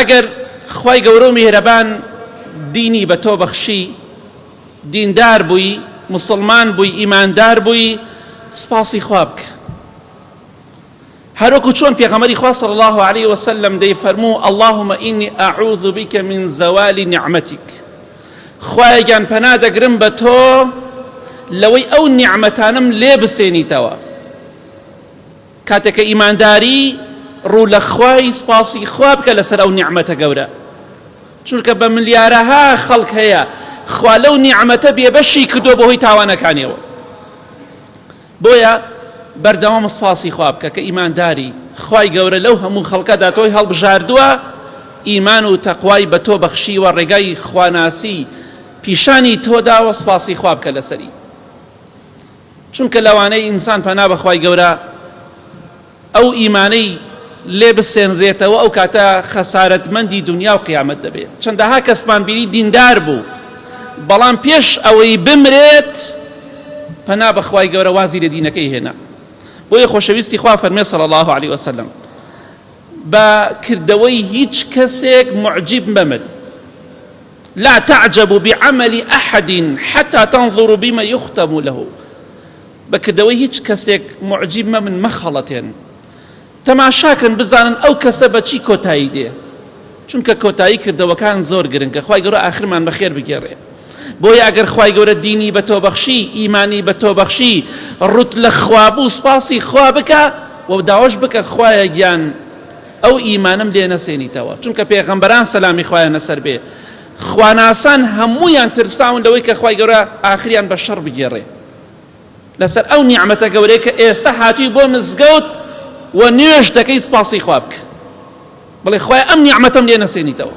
ئەگەر خوای گەورەو میهرەبان دینی بە تۆ بەخشی دیندار بووی مسلمان بووی ئیماندار بووی سپاسی خوابک هەروەکو چۆن پێغەمەری خوا صلی الله عليه وسلم دەی فەرموو اللهم إني أعوذ بك من زوال نعمتك خوایەگیان پەنا دەگرم بە تۆ لەوەی ئەو نیعمەتانم لێ بسێنیتەوە کاتێک کە ئیمانداری ڕوو لە خوای سپاسی خوا بکە لەسەر ئەو نیعمەتە گەورە چونکە بە ملیارەها خەڵک هەیە خوا لەو نیعمەتە بێبەشی کردو بەهۆی تاوانەکانیەوە بۆیە بەردەوام سپاسی خوا بکە کە ئیمانداری خوای گەورە لەو هەموو خەڵکەدا تۆی هەڵبژاردووە ئیمان و تەقوای بە تۆ بەخشیوە ڕێگای خواناسی پیشانی تۆدا وە سپاسی خوا بکە لەسەری چونکە لەوانەیە ئینسان پەنا بە خوای گەورە ئەو ئیمانەی لێ بسێنرێتەوە ئەو کاتە خەسارەتمەندی دنیا و قیامەت دەبێت چەندەها کەسمان بینی دیندار بوو بەڵام پێش ئەوەی بمرێت پەنا بەخوای گەورە وازی لە دینەکەی هێنا بۆیە خۆشەویستی خوا فەرمێ صلی الله عليه وسلم بە کردەوەی هیچ کەسێک معجیب مەمن لا تعجب بعمل احد حتى تنظر بما يختم له بە کردەوەی هیچ کەسێک معجیب مەبن مەخەڵەتێن تەماشاکەن بزانن ئەو کەسە بە چی کۆتایی دێ چونکە کۆتایی کردەوەکان زۆر گرنگە خی گەورە ئاخرمان بەخێر بگێڕێ بۆیە ئەگەر خی گەورە دینی بە تۆبەخشی ئیمانی بە تۆبەخشی ڕوت لە خوابوو سپاسی خوا بکە و داواش بکە خوایە گیان ئەو ئیمانم دێ نەسێنیتەوە چونکە پێغەمبەران سەلامی خوایان لەسەر بێ خواناسان هەموویان ترساون لەوەی کە خوای گەورە ئاخریان بە شەڕ بگێڕێ لەسەر ئەو نیعمەتە گەورەیە کە ئێستا هاتووی بۆ مزگەوت و نوێژ دەکەی سپاسی خوا بکە بڵێ خوای ئەم نیعمەتەم لێ نەسێنیتەوە